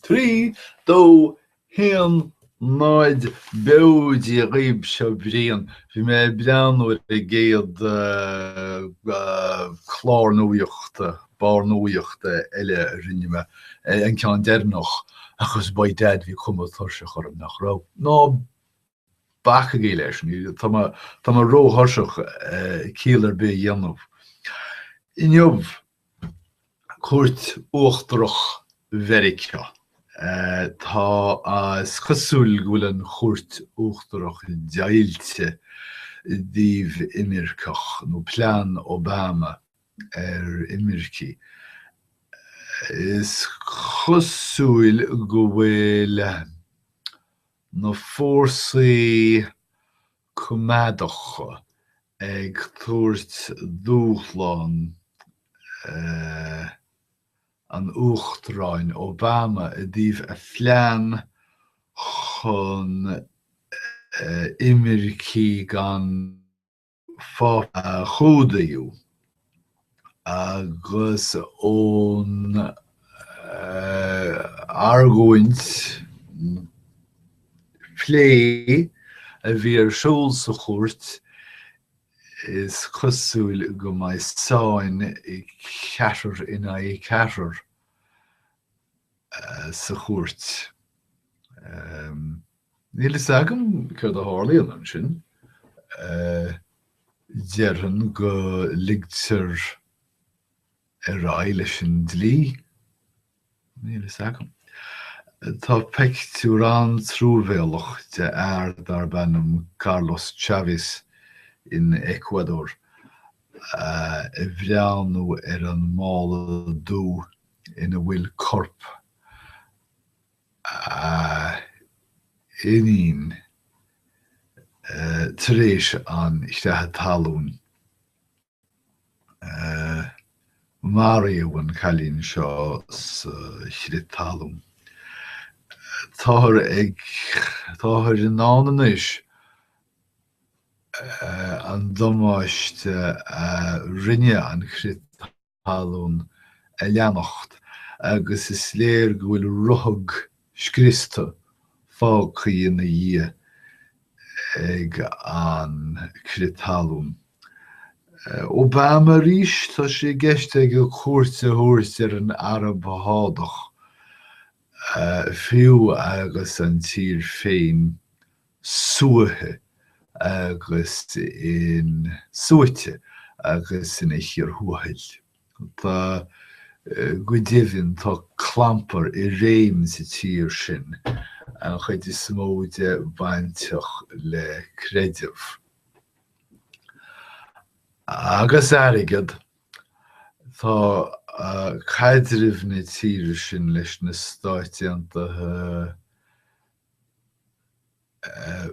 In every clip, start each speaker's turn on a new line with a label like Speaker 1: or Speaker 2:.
Speaker 1: Trí, dó, haon, náid, beo Dia dhaoibh seo Brian. Bhí mé ag breathnú ar an gcéad clár nuachta, barr nuachta eile a rinne mé, an ceann deireanach, agus by dad bhí cuma tuirseach orm nach raibh. Ná bacaigí leis, tá mé ró-thuirseach ciall ar bith a dhéanamh. Inniu, Cúirt Uachtarach Mheiriceá. Tá, is cosúil go bhfuil an Chúirt Uachtarach deighilte i dtaobh imirceach, nó plean Obama ar imircigh. Is cosúil go bhfuil na fórsaí coimeádacha ag tabhairt dúshlán an Uachtaráin Obama i dtaobh a phlean chun imircigh gan pháirt a chumhdaíodh agus ón argóint phlé a bhí ar siúl sa chúirt, is cosúil go mbeidh sáinn ceathrar in aghaidh ceathrar sa chúirt. Níl fhios agam céard a tharlaíonn ansin. Déarfainn go ligtear ar aghaidh leis an dlí. Níl fhios agam. Tá pictiúr an-truamhéalach de fhear darb ainm Carlos Chavez in Eacuadór ag breathnú ar an mála dubh ina bhfuil corp. a iníon tar éis an chreatha talún. Maraíodh an cailín seo sa chrith talún. Táthar ag, táthar in ann anois an damáiste a rinne an crith talún a leanacht agus is léir go bhfuil ruthag scriosta fágtha ina dhiaidh ag an crith talún. Obama arís, tá sé i gceist aige cuairt a thabhairt ar an Araib Shádach, fiú agus an tír féin suaitheadh agus in suaite agus ina chíor thuathail. Tá, go deimhin, tá clampar i réim sa tír sin, an chuid is mó de bainteach le creideamh. Agus airgead, tá caidreamh na tíre sin leis na Stáit Aontaithe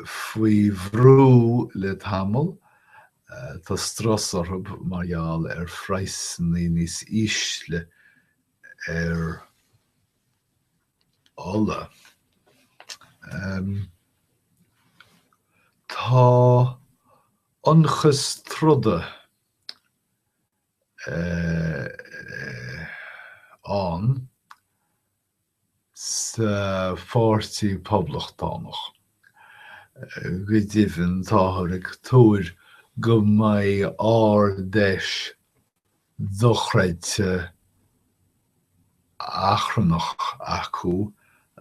Speaker 1: faoi bhrú le tamall, tá strus orthu mar gheall ar phraghsanna níos ísle ar ola. Tá ionchas troda ann. sa Pháirtí Poblachtánach. Go deimhin, táthar ag tuar go mbeidh Ard-Fheis dochreidte achrannach acu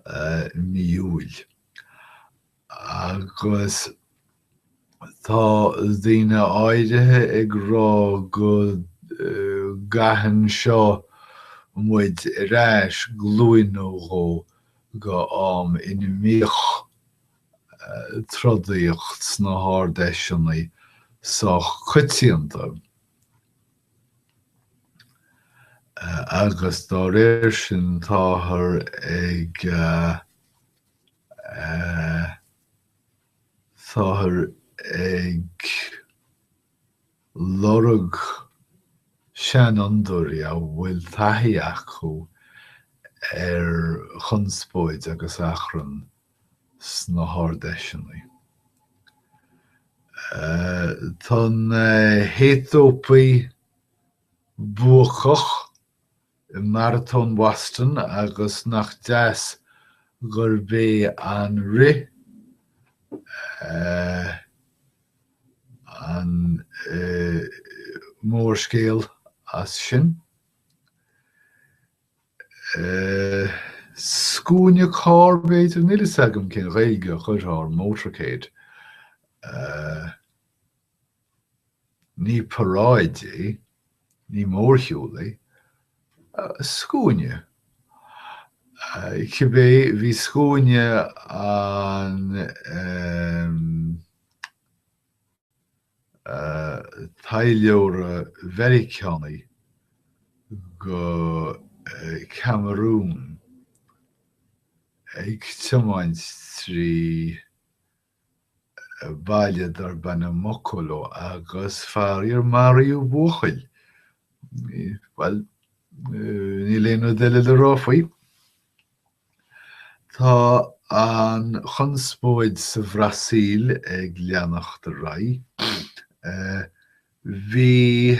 Speaker 1: i mí Iúil. agus tá daoine áirithe ag rá go gcaitheann seo muid ar ais glúin nó dhó go am ina mbíodh trodaíocht sna hArdFheiseanna sách coitianta, agus dá réir sin táthar ag. Táthar ag lorg seanfhondúirí a bhfuil taithí acu ar chonspóid agus achrann sna hArd-Fheiseanna. Tá na hAetópaigh buacach i Maratón Bhoston agus nach deas gurb é an rith an mórscéal as sin. Scuaine carr, b'fhéidir? Níl a fhios agam cén Ghaeilge a chuirfeá ar motorcade. Ní paráid é, ní mórshiúl é. Scuaine. Cibé, bhí scuaine an taidhleora Mheiriceánaigh go Camarún ag tiomáint trí baile darb ainm Mokolo agus faraor maraíodh buachaill, bhuel, níl aon rud eile le rá faoi. Tá an chonspóid sa Bhrasaíl ag leanacht ar aghaidh. Bhí.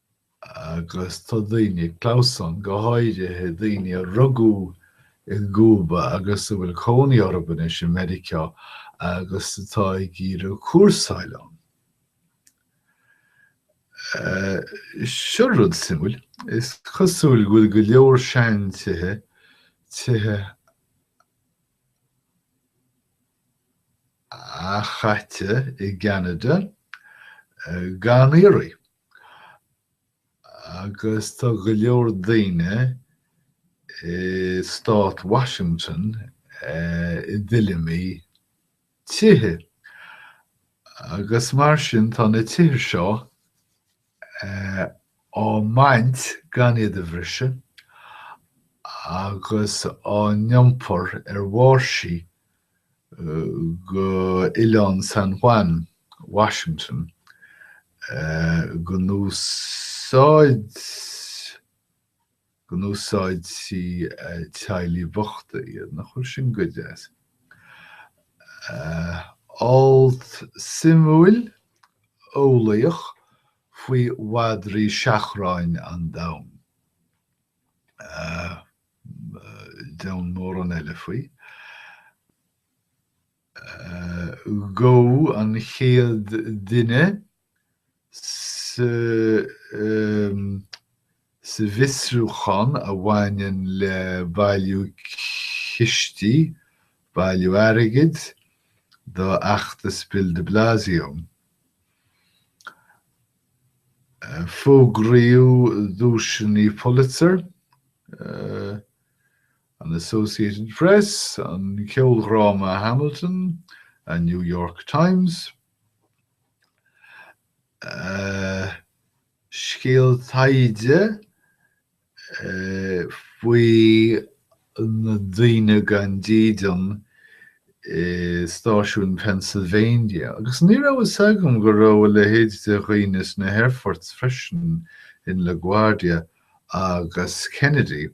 Speaker 1: agus tá daoine ag clamhsán, go háirithe daoine a rugadh i gCúba agus a bhfuil cónaí orthu anois i Meiriceá agus atá ag iarraidh cúrsáil ann. Seo rud suimiúil, is cosúil go bhfuil go leor seantithe, tithe athchaite i gCeanada, gan iarraidh. Agus tá go leor daoine i Stát Washington i dtuilleamaí tithe, agus mar sin tá na tithe seo á mbaint gan iad a bhriseadh agus á n-iompar ar bháirsí go Oileán San Juan, Washington, go n-úsáidfidh teaghlaigh bhochta iad, nach bhfuil sin go deas? alt suimiúil eolaíoch faoi mhadraí seachráin an domhain. domhain mórán eile faoi. Gabhadh an chéad duine sa bhfiosrúchán a bhaineann le bailiú cistí, bailiú airgid, do fheachtas Bill de Blasio. Fógraíodh duaiseanna Pulitzer, an Associated Press, an ceoldhráma Hamilton, an New York Times, scéal taighde faoi na daoine gan dídean i stáisiún Pennsylvania, agus ní raibh fhios agam go raibh a leithéid de dhaoine sna haerphoirt freisin, in La Guardia agus Kennedy.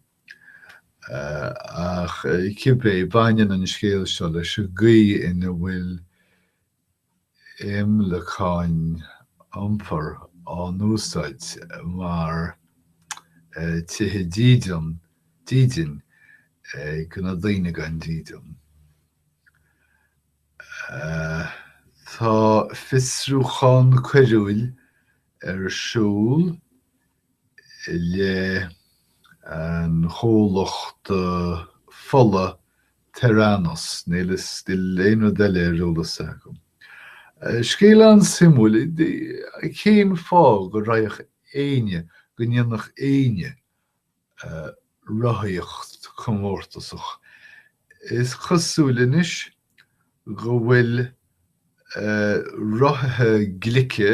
Speaker 1: Ach cibé, baineann an scéal seo leis an gcaoi ina bhfuil imleacáin iompair á n-úsáid mar tithe dídean, dídin, do na daoine gan dídean. Tá fiosrúchán coiriúil ar siúl. leith an chomhlachta fola Theranos, níl a fhios agam, níl aon rud eile ar eolas agam. Scéal an-suimiúil, cén fáth go raghadh éinne, go ndéanfadh éinne rothaíocht comórtasach? Is cosúil anois go bhfuil rothaithe glice,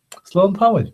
Speaker 1: Slán tamaill.